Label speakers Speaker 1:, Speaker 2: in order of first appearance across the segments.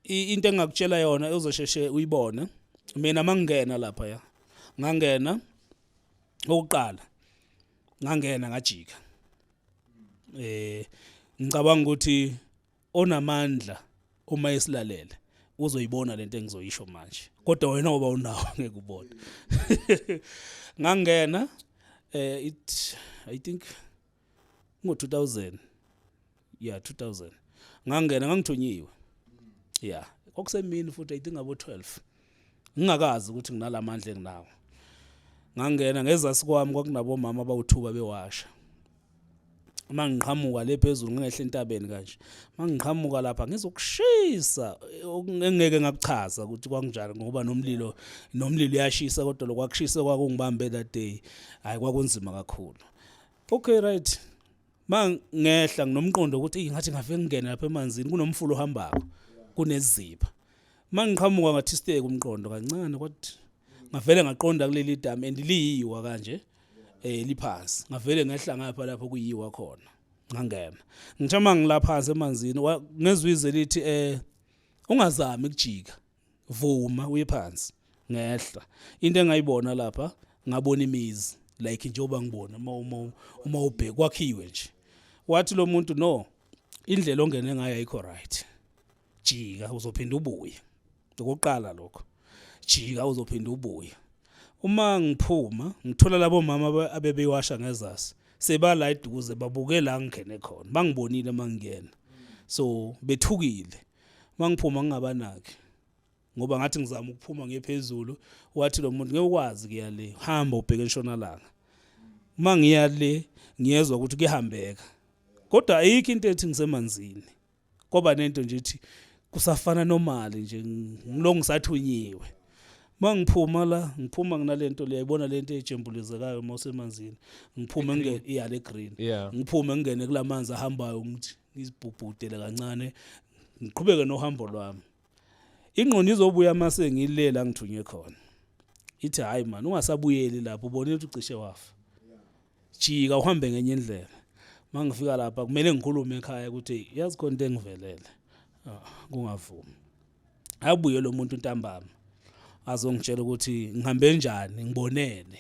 Speaker 1: into engingakutshela yona uzosheshe uyibone mina mangingena lapha ya ngangena okuqala ngangena ngajika eh ngicabanga ukuthi onamandla uma esilalele uzoyibona lento engizoyisho manje kodwa wena ngoba unawo ngeke ubone ngangena eh it i think ngo-2000 ya 2000 ngangena ngangithunyiwe ya kwakusemini futhi i think abo 12 ngingakazi ukuthi nginalamandla enginawo ngangena ngezasi kwami kwakunabomama abawuthuba bewasha uma ngiqhamuka le phezulu ngingehle entabeni kanje uma ngiqhamuka lapha ngizokushisa engeke ngakuchaza ukuthi kwakunjani ngoba nomlilo nomlilo uyashisa kodwa lokwakushisa kwakungibambe that day hayi kwakunzima kakhulu okay right ma ngehla nginomqondo ukuthi eyi ngathi ngafe ngingene lapha emanzini kunomfula ohambako kuneziba ma ngiqhamuka ngathisteke umqondo kancane kwathi ngavele ngaqonda kuleli dam and liyiwa kanje eh liphansi ngavele ngehla ngapha lapho kuyiwa khona ngangena ngithe uma ngilaphansi emanzini ngezwe ize lithi eh ungazami ukujika vuma uye phansi ngehla into engayibona lapha ngabona imizi like njengoba ngibona uma uma uma ubheka kwakhiwe nje wathi lo muntu no indlela ongene ngayo ayikho right jika uzophinda ubuye ngokuqala lokho jika uzophinda ubuye uma ngiphuma ngithola labo mama abebeyiwasha ngezasi sebala eduze babuke la ngingene khona bangibonile mangiyena so bethukile mangiphuma ngingabanaki ngoba ngathi ngizama ukuphuma ngiye phezulu wathi lo muntu ngeke ukwazi kuya le hamba ubheke entshonalanga uma ngiya le ngiyezwa ukuthi kuyahambeka kodwa ayikho into ethi ngisemanzini kwaba nento nje ethi kusafana nomali nje ngilo ngisathunyiwe mangiphuma la ngiphuma nginalento liyayibona lento ejembulezekayo mosemanzini ngiphume ngene iya le green ngiphume ngene kulamanzi ahambayo ngithi ngizibhubhudele kancane ngiqhubeke nohambo lwami ingqondo izobuya uma sengilela ngithunywe khona ithi hhayi mani ungasabuyeli lapho ubonile ukuthi ucishe wafa jika uhambe ngenye indlela uma ngifika lapha kumele ngikhulume ekhaya ukuthi yazi khona into engivelele ah, kungavumi abuye lo muntu ntambama azongitshela ukuthi ngihambe njani ngibonene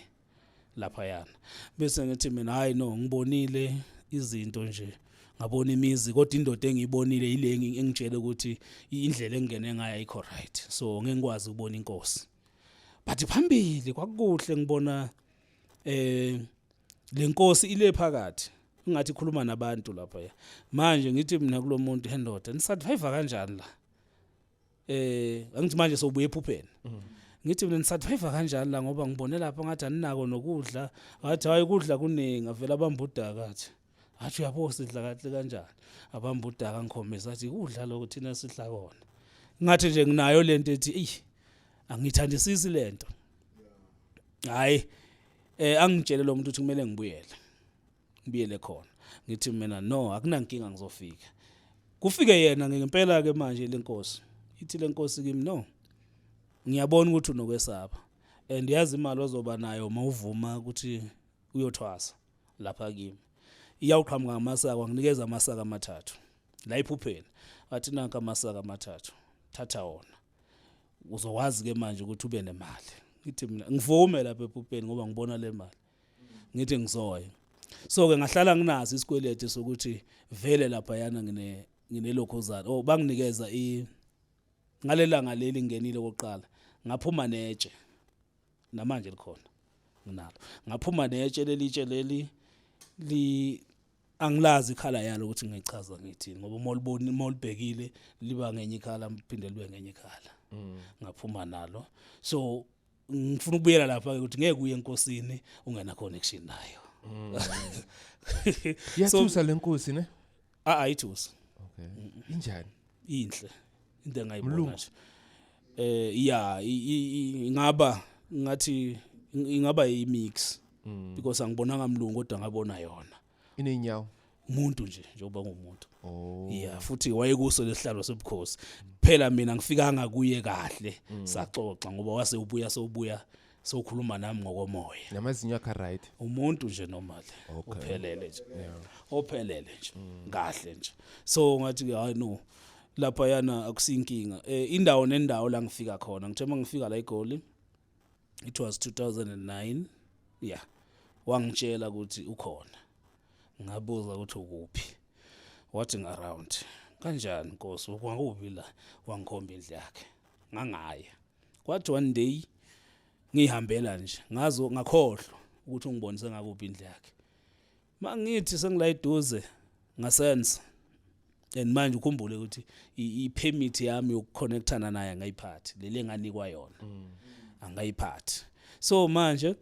Speaker 1: laphayana bese ngithi mina hayi no ngibonile izinto nje ngabona imizi kodwa indoda engiyibonile yile engitshele ukuthi indlela engingene ngayo ayikho right so ngeke ngikwazi ukubona inkosi but phambili kwakukuhle ngibona eh lenkosi ile phakathi ingathi ikhuluma nabantu lapha manje ngithi mina kulomuntu hendoda nisurvive kanjani la eh angithi manje sobuye ephupheni mm. ngithi mina nisadriver kanjani la ngoba ngibone lapha ngathi aninako nokudla ngathi hayi ukudla kuningi avela abambudaka athi athi uyabo sidla kahle kanjani abambudaka ngikhombisa athi kudla lokho thina sidla kona ngathi nje nginayo lento ethi ey angithandisisi lento hayi eh angitshele lo muntu ukuthi kumele ngibuyele ngibiyele khona ngithi mina no akunankinga ngizofika kufike yena ngempela ke manje lenkosi ithi lenkosi kimi no ngiyabona ukuthi unokwesaba and yazi imali ozoba nayo mawuvuma ukuthi uyothwasa lapha kimi iyawuqhamuka ngamasaka nginikeza amasaka amathathu la iphupheni athi nanka amasaka amathathu thatha wona uzokwazi ke manje ukuthi ube nemali ngithi mina ngivume lapha ephupheni ngoba ngibona le mali ngithi ngizoya so ke ngahlala nginaso isikweleti sokuthi vele lapha yana ngine nginelokhozana oh banginikeza i ngalelanga leli ngenile kokuqala ngaphuma netshe namanje likhona nginalo ngaphuma netshe lelitshe leli li angilazi ikhala yalo ukuthi ngichaza ngithini ngoba uma uliboni uma ulibhekile liba ngenye ikhala mphinde libe ngenye ikhala mm. ngaphuma nalo so ngifuna ukubuyela lapha ukuthi ngeke uye enkosini ungena connection nayo mm.
Speaker 2: yathusa lenkosi ne a ayithusa
Speaker 1: okay
Speaker 2: injani inhle
Speaker 1: into engayibona nje eh ya ingaba ngathi ingaba yimix mm. because angibonanga mlungu kodwa ngabona yona inenyawo
Speaker 2: umuntu nje
Speaker 1: njengoba ngumuntu oh yeah futhi wayekuso lesihlalo sobukhosi phela mina ngifikanga kuye kahle mm. saxoxa ngoba wase ubuya sobuya sokhuluma nami ngokomoya namazinyo akhe right
Speaker 2: umuntu nje normal
Speaker 1: uphelele nje ophelele nje mm. kahle nje so ngathi ke hayi no lapha yana akusinkinga eh indawo nendawo la ngifika khona ngithe mangifika la egoli it was 2009 yeah wangitshela ukuthi ukhona ngabuza ukuthi ukuphi wathi ngaround kanjani nkosi kwakuphi la wangikhomba indlu yakhe ngangaya kwathi one day ngihambela nje ngazo ngakhohlwa ukuthi ungibonise ngakuphi indlu yakhe mangithi sengila eduze ngasense and manje ukhumbule ukuthi i-permit yami yokuconnectana naye angayiphathi leli enganikwa yona mm. angayiphathi so manje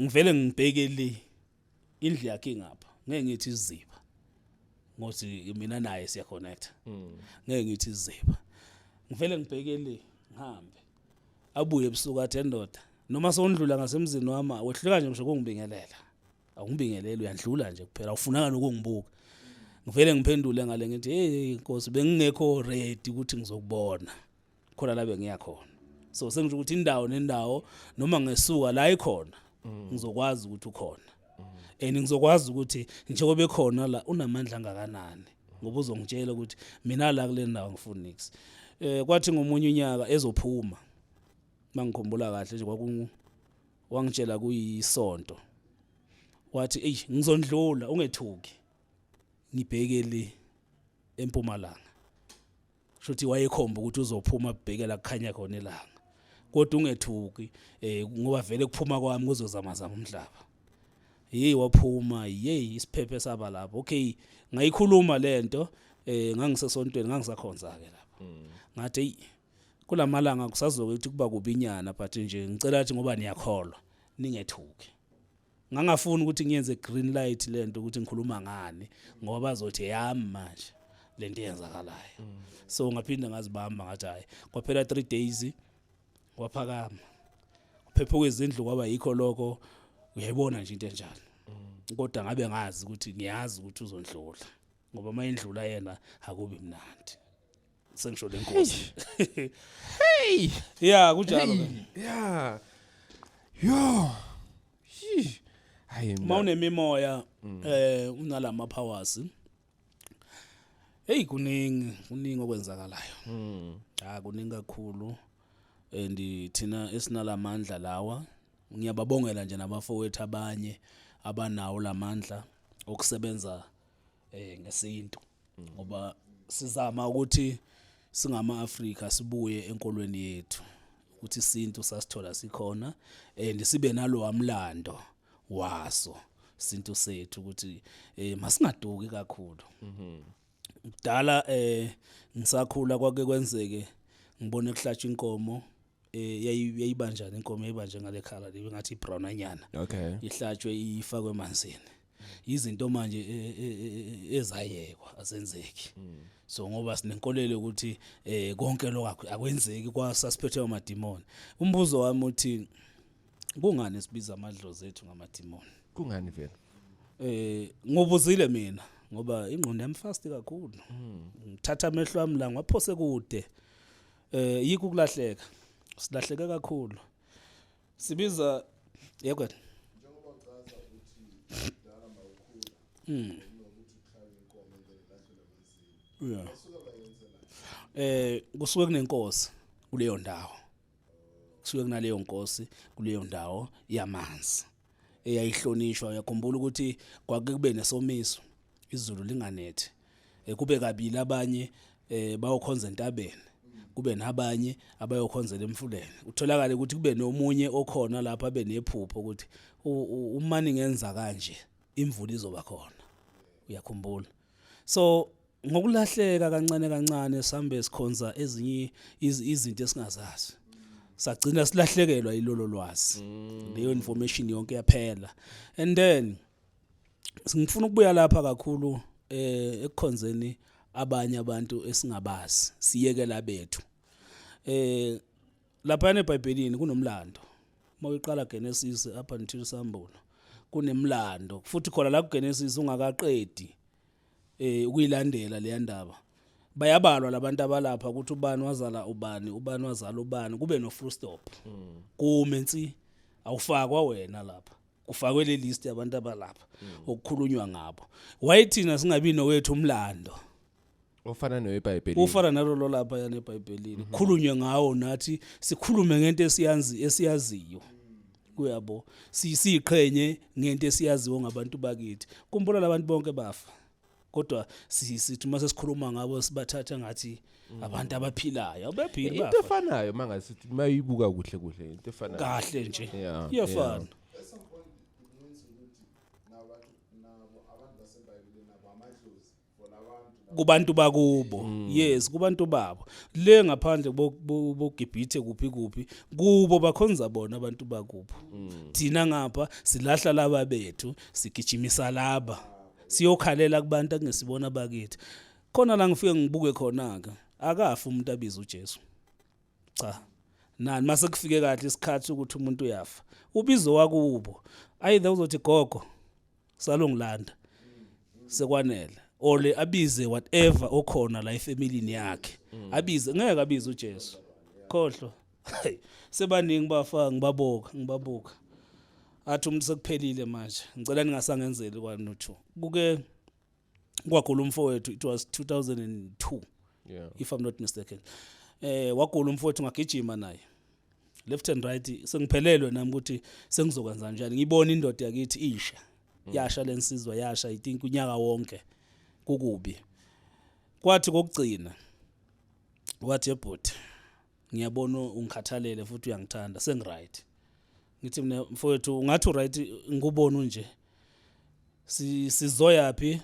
Speaker 1: ngivele ngibheke le indlu yakhe ingapha ngeke ngithi iziba ngothi mina naye siya connect mm. ngeke ngithi iziba ngivele ngibheke le ngihambe abuye ebusuku athi endoda noma sewundlula ngasemzini wami wehluleka nje ngisho kungibingelela awungibingeleli uyandlula nje kuphela awufunanga nokungibuka ngivele ngiphendule ngale ngithi hey inkosi bengingekho ready ukuthi ngizokubona khona la bengiya khona so sengisho ukuthi indawo nendawo noma ngesuka la ikhona mm. ngizokwazi ukuthi ukhona and ngizokwazi ukuthi njengoba ekhona la unamandla angakanani ngoba uzongitshela ukuthi mina la kule ndawo ngifuna nix eh kwathi ngomunye unyaka ezophuma mangikhumbula kahle nje kwaku wangitshela kuyisonto wathi ey ngizondlula ungethuki ngibheke le empumalanga shuthi wayekhomba ukuthi uzophuma bhekela kukhanya khona ilanga kodwa ungethuki eh ngoba vele kuphuma kwami kuzozama zama umhlaba hey waphuma hey isiphephe saba lapho okay ngayikhuluma lento eh ngangisesontweni ngangisakhonza ke lapho mm. ngathi hey kulamalanga kusazokuthi kuba kubinyana but nje ngicela ukuthi ngoba niyakholwa ningethuki ngangafuni ukuthi ngiyenze green light lento ukuthi ngikhuluma ngani ngoba bazothi yami manje lento eyenzakalayo mm. so ngaphinde ngazibamba ngathi hayi kwaphela 3 days waphakama phephuka izindlu kwaba yikho lokho uyayibona nje into enjalo mm. kodwa ngabe ngazi ukuthi ngiyazi ukuthi uzondlula ngoba mayendlula yena akubi mnandi sengisho le nkosi hey
Speaker 2: yeah
Speaker 1: kunjalo ke yeah
Speaker 2: yo Yee. hayi mina- uma unemimoya Mm.
Speaker 1: eh unalama powers hey kuningi kuningi okwenzakalayo Mm. ha kuningi kakhulu and thina esinalamandla lawa ngiyababongela nje nabafowethu abanye abanawo lamandla okusebenza eh ngesintu ngoba sizama ukuthi singama Africa sibuye enkolweni yethu ukuthi isintu sasithola sikhona and sibe nalo amlando waso isintu sethu ukuthi eh masingaduki kakhulu mhm kudala eh ngisakhula kwake kwenzeke ngibone kuhlatshwa inkomo eh, yayi- yayibanjani inkomo yayibanje ngale khala le ngathi ibrown anyana okay ihlatshwe
Speaker 2: ifakwe
Speaker 1: emanzini izinto manje e- e- e- ezayekwa azenzeki so ngoba sinenkolelo yokuthi eh konke lokho akwenzeki kwasasiphethe amadimoni umbuzo wami uthi kungani sibiza amadlozi ethu ngamadimoni kungani vele
Speaker 2: eh ngobuzile
Speaker 1: mina ngoba ingqondo yami fast kakhulu ngithatha amehlo ami la ngwaphose kude eh yikho ukulahleka silahleke kakhulu sibiza yekwe njengoba uchaza ukuthi kudala mawukhula mm nokuthi ukhaya inkomo ngeke lahlele amanzini yeah asuka bayenzela eh kusuke kunenkosi kuleyo ndawo kusuke kunaleyo nkosi kuleyo ndawo yamanzi eyayihlonishwa uyakhumbula ukuthi kwake kube nesomiso izulu linganethi eh, kube kabili abanye eh, bayokhonza entabeni kube nabanye abayokhonzela emfuleni utholakale ukuthi kube nomunye okhona lapha benephupho ukuthi umani ngenza kanje imvula izoba khona uyakhumbula so ngokulahleka kancane kancane sambe sikhonza ezinye izinto esingazazi sagcina silahlekelwa ilolo lwazi mm. leyo information yonke yaphela and then ngifuna ukubuya lapha kakhulu eh ekukhonzeni abanye abantu esingabazi siyekela bethu eh laphayana ebhayibhelini kunomlando uma uyiqala genesis up until sambulo kunemlando futhi khona la kugenesis ungakaqedi eh ukuyilandela leya ndaba bayabalwa labantu abalapha ukuthi ubani wazala ubani ubani wazala ubani kube no full stop kume nsi awufakwa wena lapha kufakwe le list yabantu abalapha okukhulunywa ngabo wayithina singabi nowethu umlando ofana
Speaker 2: nowebhayibhelini ufana nalo lo lapha
Speaker 1: yana ebhayibhelini khulunywe ngawo nathi sikhulume ngento esiyazi esiyaziyo kuyabo Si- siyiqhenye ngento esiyaziyo ngabantu bakithi kumbona labantu bonke bafa kodwa si- sithi uma sesikhuluma ngabo sibathatha ngathi abantu abaphilayo abephili into bafa efanayo mangasithi
Speaker 2: mayibuka kuhle kuhle into efanayo kahle nje Yeah,
Speaker 1: iyafana kubantu bakubo mm. yes kubantu babo le ngaphandle bogibhithe kuphi kuphi kubo bakhonza bona abantu bakubo mm. thina ngapha silahla laba bethu sigijimisa laba siyokhalela kubantu akungesibona bakithi khona la ngifike ngibuke khona ke akafi umuntu abiza uJesu cha nani mase kufike kahle isikhathi ukuthi umuntu uyafa ubizo wakubo ayithe uzothi gogo salongilanda sekwanele or le abize whatever okhona la efamilini yakhe abize ngeke abize uJesu khohlwa Hayi, sebaningi bafa ngibabuka ngibabuka athi umuntu sekuphelile manje ngicela ningasangenzeli kwanuthu kuke kwagula umfowethu it was 2002 yeah. if i'm not mistaken eh wagula umfowethu ngagijima naye left and right sengiphelelwe nami ukuthi sengizokwenza njani ngibona indoda yakithi isha mm. yasha lensizwa yasha i think unyaka wonke kukubi kwathi kokugcina wathi ebhuti ngiyabona ungikhathalele futhi uyangithanda sengiright ngithi mina mfowethu ungathi uright ngikubona unje si sizoyaphi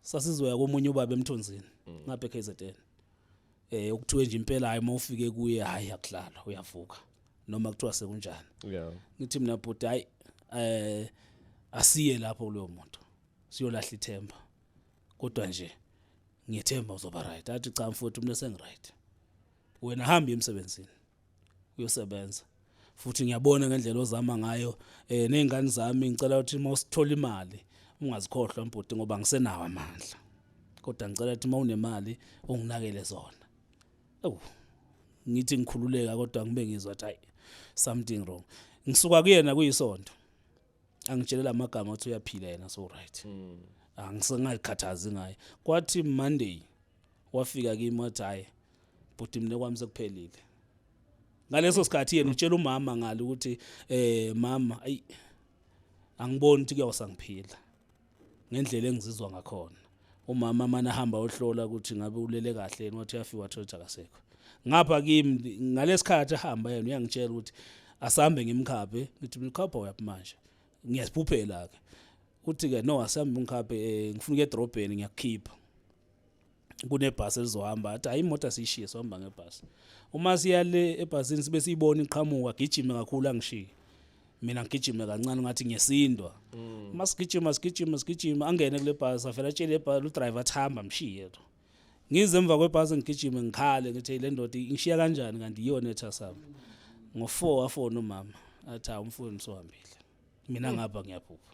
Speaker 1: sasizoya komunye ubaba emthunzini mm. ngapha eKZN eh ukuthiwe nje impela hayi uma ufike kuye hayi akudlala uyavuka noma kuthiwa sekunjani yeah ngithi mina bhuti hayi eh asiye lapho kuloyo muntu siyolahla ithemba kodwa nje ngiyethemba uzoba right athi cha mfowethu mina sengiright wena hamba emsebenzini uyosebenza futhi ngiyabona ngendlela ozama ngayo eh nezingane zami ngicela ukuthi uma usithola imali ungazikhohlwa mbhuti ngoba ngisenawo amandla kodwa ngicela ukuthi uma unemali unginakele zona ewu ngithi ngikhululeka kodwa ngibe ngizwa ukuthi hayi something wrong ngisuka kuyena kuyisonto angitshele la magama ukuthi uyaphila yena so right hmm. angisengayikhathazi ngaye kwathi monday wafika kimi wathi hhayi bhuti mina kwami sekuphelile ngaleso sikhathi yena utshela umama ngalo ukuthi um mama ayi angiboni ukuthi kuyawusangiphila ngendlela engizizwa ngakhona umama manje ahamba ohlola ukuthi ngabe ulele kahle yini wathi uyafika wathola ukuthi akasekho ngapha kimi ngalesikhathi ahamba yena uyangitshela ukuthi asambe ngimkhaphe ngithi mkhapha uyaphi manje ngiyasiphuphela ke uthi ke no asambe ngimkhaphe eh, ngifuna ukuya edrobheni ngiyakukhipha kunebhasi elizohamba athi hayi imoto asiyishiye sohamba ngebhasi uma siya le ebhasini sibe siyibona iqhamuka gijime kakhulu angishiye mina ngigijime kancane ngathi ngiyesindwa mm. uma sigijima sigijima sigijima angene kule bhasi avele atshele ibhasi udriver athi hamba mshiye to ngize emva kwebhasi ngigijime ngikhale ngithi le ndoda ingishiya kanjani kanti iyona ethasama ngo-four wafona umama athi hawu umfowenu siwahambile mina mm. ngapha ngiyaphupha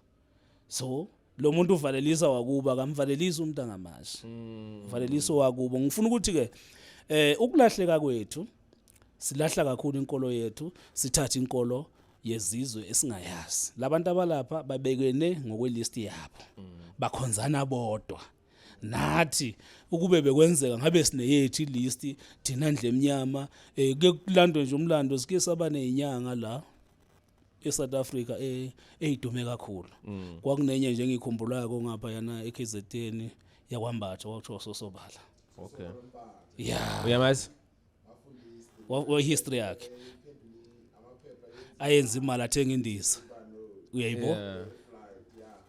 Speaker 1: so lo muntu uvalelisa wakuba kamvalelisa umuntu angamashi mm. uvalelisa wakubo ngifuna ukuthi ke eh ukulahleka kwethu silahla kakhulu inkolo yethu sithatha inkolo yezizwe esingayazi labantu abalapha babekene ngokwelist yabo mm. bakhonzana bodwa nathi ukube bekwenzeka ngabe sineyethu ilist thina ndle emnyama eh kulandwe nje umlando sike saba nezinyanga la eSouth Africa e- eyidume kakhulu Mm. kwakunenye nje engikhumbulayo kongapha yana eKZN yakwambatha kwakuthiwa sosobala Okay.
Speaker 2: yeah
Speaker 1: Uyamazi? wa- wa- history yakhe ayenza imali athenga indiza uyayibo Yeah.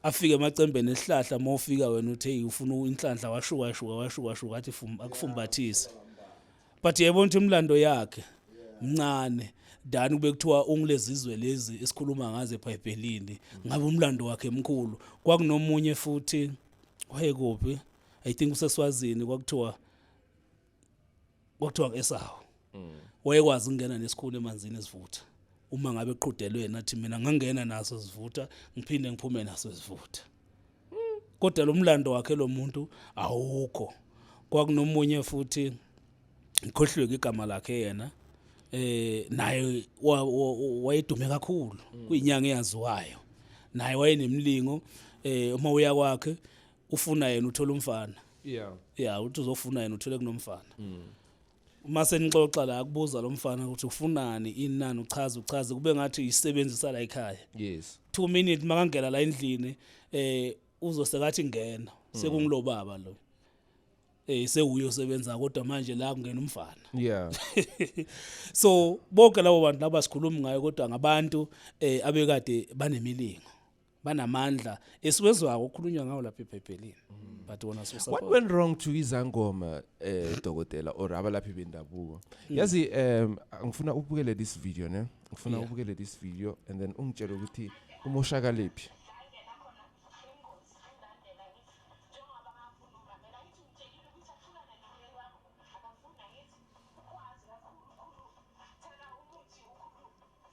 Speaker 1: afike emacembeni esihlahla uma ufika wena uthe "Hey, ufuna inhlanhla washuka shuka washuka shuka athi fum- akufumbathise but yayibona ukuthi imlando yakhe mncane dani kube kuthiwa ungilezizwe lezi esikhuluma ngazo ebhayibhelini ngabe umlando wakhe mkhulu kwakunomunye futhi wayekuphi i think useswazini kwakuthiwa kwakuthiwa ngesawo mm. wayekwazi ukungena nesikhulu emanzini esivutha uma ngabe qhudelwe nathi mina ngangena naso sivutha ngiphinde ngiphume naso sivutha kodwa lo mlando wakhe lo muntu awukho kwakunomunye futhi ngikhohlweke igama lakhe yena eh naye wayedume kakhulu mm. kuyinyanga eyaziwayo naye wayenemlingo eh uma uya kwakhe ufuna yena uthola umfana yeah yeah uthi uzofuna yena uthole kunomfana mm. uma senixoxa la kubuza lo mfana ukuthi ufunani inani uchaza uchaze kube ngathi isebenzisa la ekhaya yes 2 minutes
Speaker 2: makangena
Speaker 1: la endlini eh uzosekathi ngena mm. sekungulo baba lo eh sewuye osebenza kodwa manje la kungena umfana yeah
Speaker 2: so
Speaker 1: bonke labo bantu laba sikhuluma ngayo kodwa ngabantu eh abekade banemilingo banamandla esiwezwako okhulunywa ngawo lapha ebhayibhelini mm. but wona so what went wrong to
Speaker 2: izangoma eh dokotela or abalaphi bendabuko mm. yazi um ngifuna ubukele this video ne ngifuna ubukele this video and then ungitshele ukuthi umoshakaliphi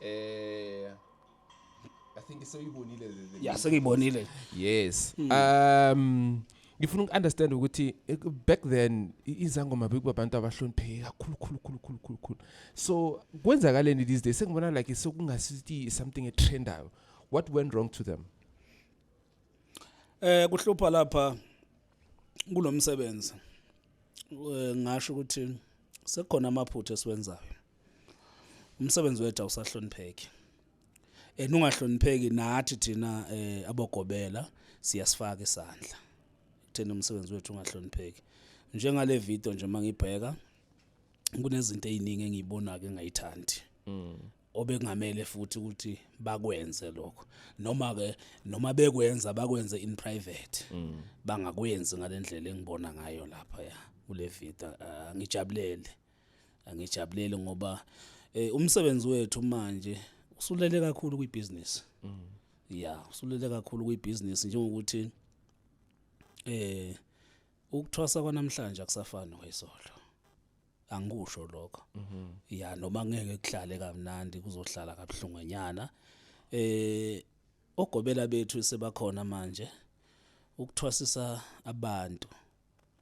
Speaker 1: eh
Speaker 2: i think soyibonile le- le- ya sengiyibonile
Speaker 1: yes
Speaker 2: um ngifuna uku-understand ukuthi eh, back then i- izangoma bekuba abantu abahlonipheke kakhulu khulu khulu khulu khulu khulu so kwenzakaleni these days sengibona like sekungasithi something etrendayo what went wrong to them eh
Speaker 1: kuhlupha lapha kulomsebenzi eh ngasho ukuthi sekukhona amaphutha esiwenzayo umsebenzi wethu awusahlonipheki and ungahlonipheki nathi thina eh abogobela siyasifaka isandla kuthena umsebenzi wethu ungahlonipheki njengale video nje mangibheka kunezinto eziningi engiyibona ke ngayithandi mm. obekungamele futhi ukuthi bakwenze lokho noma ke noma bekwenza bakwenze in private mm. bangakwenzi ngalendlela engibona ngayo lapha ya kule video ah, ngijabulele angijabuleli ngoba eh umsebenzi wethu manje usulele kakhulu kwibusiness mm. ya usulele kakhulu kwibusiness njengokuthi eh ukuthwasa kwanamhlanje akusafani noyisolo angikusho lokho mhm. ya noma ngeke kuhlale kamnandi kuzohlala kabuhlungenyana eh ogobela bethu sebakhona manje ukuthwasisa abantu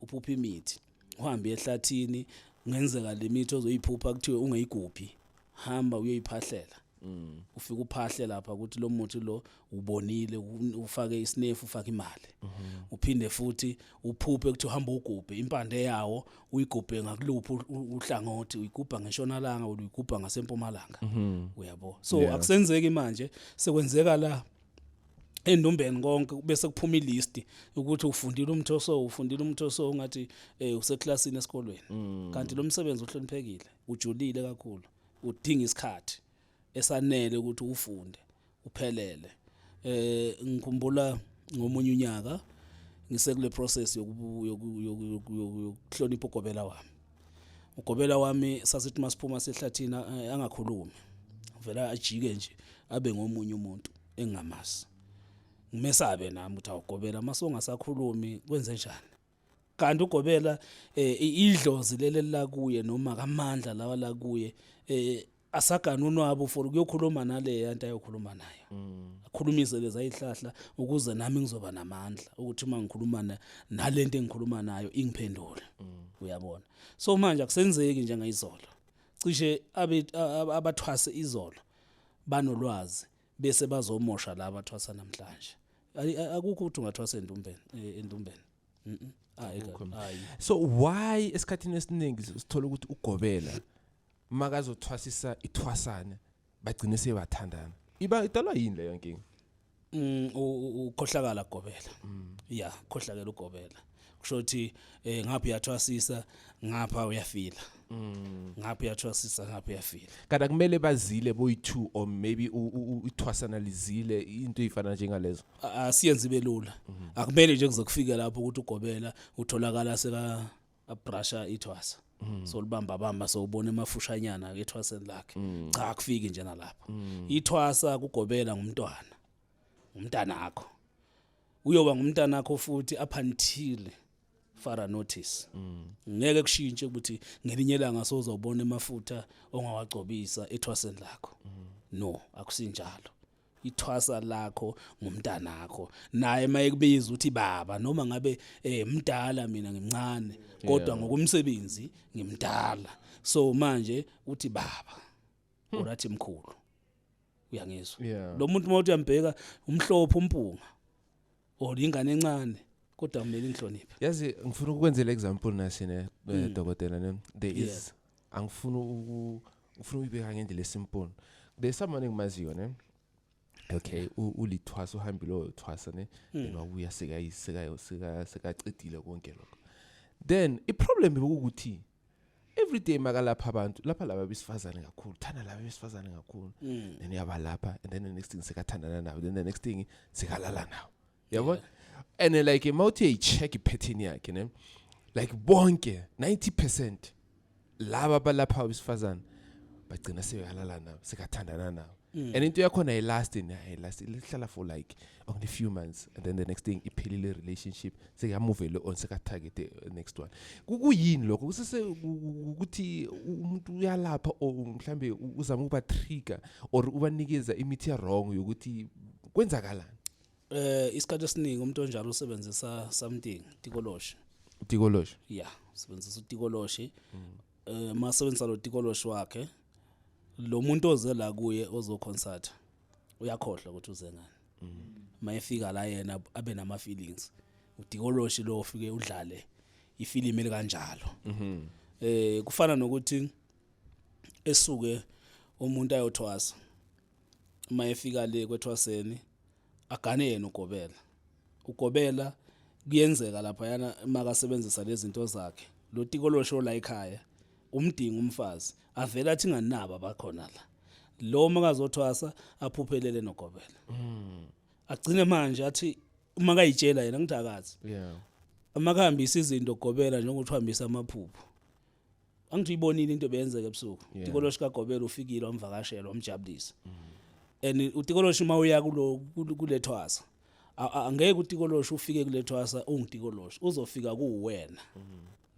Speaker 1: uphupha imithi uhambe ehlathini ngenzeka lemithi ozoyiphupha kuthiwe ungeyiguphi hamba uyoyiphahlela Mm. ufike uphahle lapha ukuthi lo muthi lo ubonile u- ufake isinefu ufake imali Mhm. uphinde futhi uphuphe ukuthi uhamba ugubhe impande yawo uyigubhe ngakuluphi u- u- uhlangothi uyigubha ngeshonalanga uyigubha ngasempumalanga Mhm. uyabo so akusenzeki manje sekwenzeka la endumbeni konke bese kuphuma ilist ukuthi ufundile umtho so ufundile umtho so ngathi eh useklassini esikolweni mm. kanti lo msebenzi uhloniphekile ujulile kakhulu udinga isikhathi esanele ukuthi ufunde uphelele eh ngikhumbula ngomunye unyaka ngisekule process yokuhlonipha ugobela wami ugobela wami sasithi masiphuma sehlathini eh, angakhulumi vela ajike nje abe ngomunye umuntu engingamazi ngimesabe nami ukuthi awugobela mase ungasakhulumi kwenze njani kanti ugobela eh, idlozi leli lakuye noma kamandla lawa lakuye eh, asagane unwabu for ukuyokhuluma naleya nto ayokhuluma nayo mm. akhulumise lezi ayihlahla ukuze nami ngizoba namandla ukuthi uma ngikhuluma na, nale nto engikhuluma nayo ingiphendule mm. uyabona so manje akusenzeki njengayizolo cishe abathwase izolo banolwazi bese bazomosha laba athwasa namhlanje akukho ukuthi ungathwasa endumbeni e, endumbeni ah,
Speaker 2: so why esikhathini esiningi sithola ukuthi ugobela makazothwasisa ithwasane bagcine sebathandana iba idalwa yini leyo nkinga Mm,
Speaker 1: u- u- ukhohlakala gobela ya khohlakela ugobela kusho ukuthi eh, ngapha uyathwasisa ngapha uyafila ngapha uyathwasisa ngapha uyafila kanti akumele bazile
Speaker 2: boyi-two or maybe u- u- u- ithwasana lizile into eyifana njengalezo A- asiyenzi ibe
Speaker 1: lula akumele nje kuzokufika lapho ukuthi ugobela utholakala seka abrasha ithwasa mm. so libamba bamba so ubona emafushanyana ke ethwaseni lakhe mm. cha akufiki nje nalapha mm. ithwasa kugobela ngumntwana umntana akho uyoba ngumntana akho futhi up until fara notice mm. ngeke kushintshe ukuthi ngelinye ilanga sozobona emafutha ongawagcobisa ethwaseni lakho mm. no akusinjalo ithwasa lakho ngumntanakho naye mayekubiza uthi baba noma ngabe eh mdala mina ngimncane kodwa ngokumsebenzi ngimdala so manje uthi baba hmm. urathi mkhulu uyangizwa lo muntu mawuthi uyambheka umhlophe umpunga or ingane encane kodwa kumele inhloniphe yazi ngifuna
Speaker 2: ukwenzela example nasi ne eh, hmm. dokotela ne there is angifuni uku ufuna uyibeka ngendlela esimple kule someone engimaziyo ne okay ulithwasa uhambile oyothwasa ne hmm. then wabuya sekayisekayo seka sekacedile konke lokho then i problem ukuthi every day makalapha abantu lapha laba besifazane kakhulu thanda laba besifazane kakhulu hmm. then uyabalapha and then the next thing sekathandana nawo then the next thing sekalala nawo yabo yeah. and uh, like mawuthi uyayi-check iphethini yakhe ne like bonke 90 percent laba balapha abesifazane bagcina sebehalala nabo sekathandana nabo mm. and into yakhona ayilasti ayilasti lihlala for like only few months and then the next thing iphelile relationship sekuyamuvele on sekatarget the uh, next one kuyini lokho kusese ukuthi umuntu uyalapha or mhlambe uzama ukuba trigger or ubanikeza imithi wrong yokuthi kwenzakalani Eh
Speaker 1: isikhathi esiningi umuntu onjalo usebenzisa something tikoloshi. Tikoloshi. Yeah, usebenzisa utikoloshi. Eh masebenzisa lo tikoloshi wakhe lo muntu oze la kuye ozo concert uyakhohlwa ukuthi uze ngani. Mayefika la yena abe nama feelings. Utikoloshi lo ufike udlale ifilimu elikanjalo. Eh kufana nokuthi esuke umuntu ayothwasa uma efika le kwethwaseni agane yena ugobela ugobela kuyenzeka lapha yana makasebenzisa lezi zinto zakhe lo tiko losho la ekhaya umdinga umfazi avela athi nganaba bakhona la lo makazothwasa aphuphelele nogobela mm. agcine manje athi uma kayitshela yena ngithakazi yeah uma kuhambisa izinto gobela njengokuthi uhambisa amaphupho angithi uyibonile into beyenzeka ebusuku yeah. tikoloshi kagobela ufikile wamvakashela wamjabulisa mm. and utikoloshi uma uya kulo kulethwasa angeke utikoloshi ufike kulethwasa ungitikoloshi uzofika kuwena mm.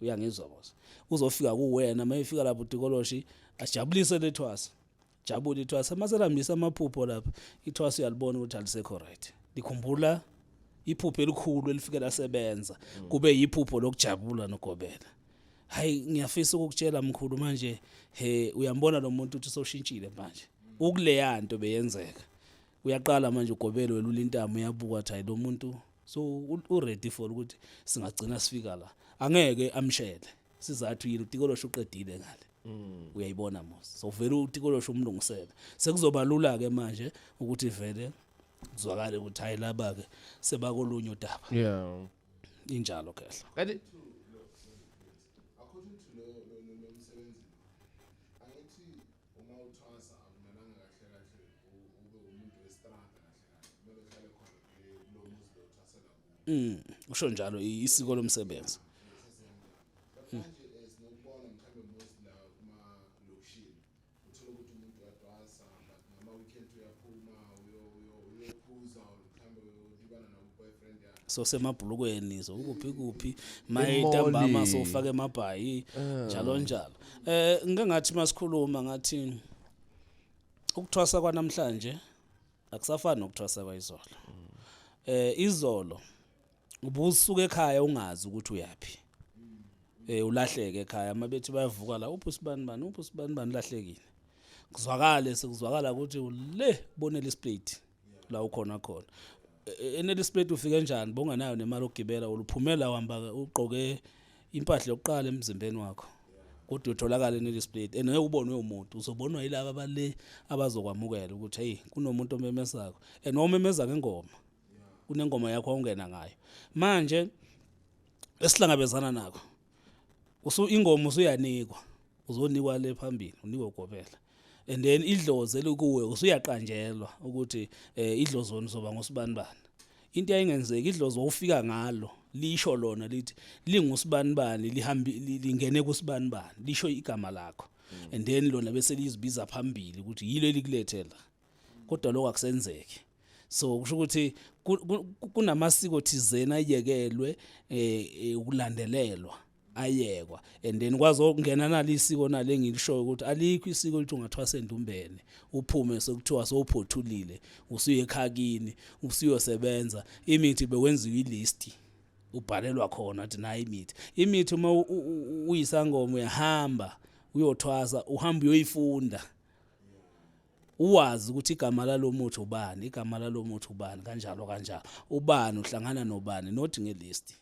Speaker 1: uyangizwa boss uzofika kuwena uma efika lapho utikoloshi ajabulise lethwasa jabula ithwasa uma selambisa amaphupho lapha ithwasa uyalibona ukuthi alisekho right likhumbula iphupho elikhulu elifike lasebenza mm. kube yiphupho lokujabula nogobela hayi ngiyafisa ukukutshela mkhulu manje he uyambona lo muntu ukuthi soshintshile manje ukuleya nto beyenzeka uyaqala manje ugobelo welula intamo uyabuka ukuthi hayi lo muntu so uready for ukuthi singagcina sifika la angeke amshele sizathu yini utikolosha uqedile ngale mm. uyayibona mos so vele utikolosha umlungisele sekuzoba lula ke manje ukuthi vele kuzwakale ukuthi hayi laba ke sebakolunye udaba yeah injalo khehla
Speaker 2: kanti
Speaker 1: Mm, usho njalo isiko lomsebenzi. so semabhulukweni so kuphi kuphi maye ntambama so ufake amabhayi ah. njalo njalo eh ngeke ngathi masikhuluma ngathi ukuthwasa kwanamhlanje akusafani nokuthwasa kwayizolo eh izolo ubusuka ekhaya ungazi ukuthi uyaphi eh ulahleke ekhaya mabethi bayavuka la uphi usibani bani uphi usibani bani lahlekile kuzwakale sekuzwakala ukuthi ule bonele isplate la ukhona khona E- enele isplate ufike njani bongenayo nemali okugibela uluphumela uhamba ugqoke impahla yokuqala emzimbeni wakho kodwa utholakala eNellis Plate and ubonwe umuntu uzobonwa yilaba abale abazokwamukela ukuthi hey kunomuntu omemezako and omemeza ngengoma kunengoma yakho awungena ngayo manje esihlangabezana nako usu ingoma usuyanikwa uzonikwa le phambili unikwe ugobela and then idlozi elikuwe usuyaqanjelwa ukuthi eh idlozoni soba ngosibani bani into yayingenzeki idlozi wawufika ngalo lisho lona lithi lingusibani bani lihambi lingene kusibani bani lisho igama lakho mm. and then lona bese lizibiza phambili ukuthi yilo elikulethela kodwa lokho akusenzeki so kusho ukuthi kunamasiko thizeni ayekelwe eh ukulandelelwa ayekwa and then kwazi ukungena nali isiko nale ngilishoyo ukuthi alikho isiko lithi ungathiwa sendumbene uphume sekuthiwa sowuphothulile usuye ekhakini usuyosebenza imithi bewenziwa ilist ubhalelwa khona athi nayi imithi imithi uma uyisangoma uyahamba uyothwasa uhamba uyoyifunda uwazi ukuthi igama lalo muthi ubani igama lalo muthi ubani kanjalo kanjalo ubani uhlangana nobani not ngelist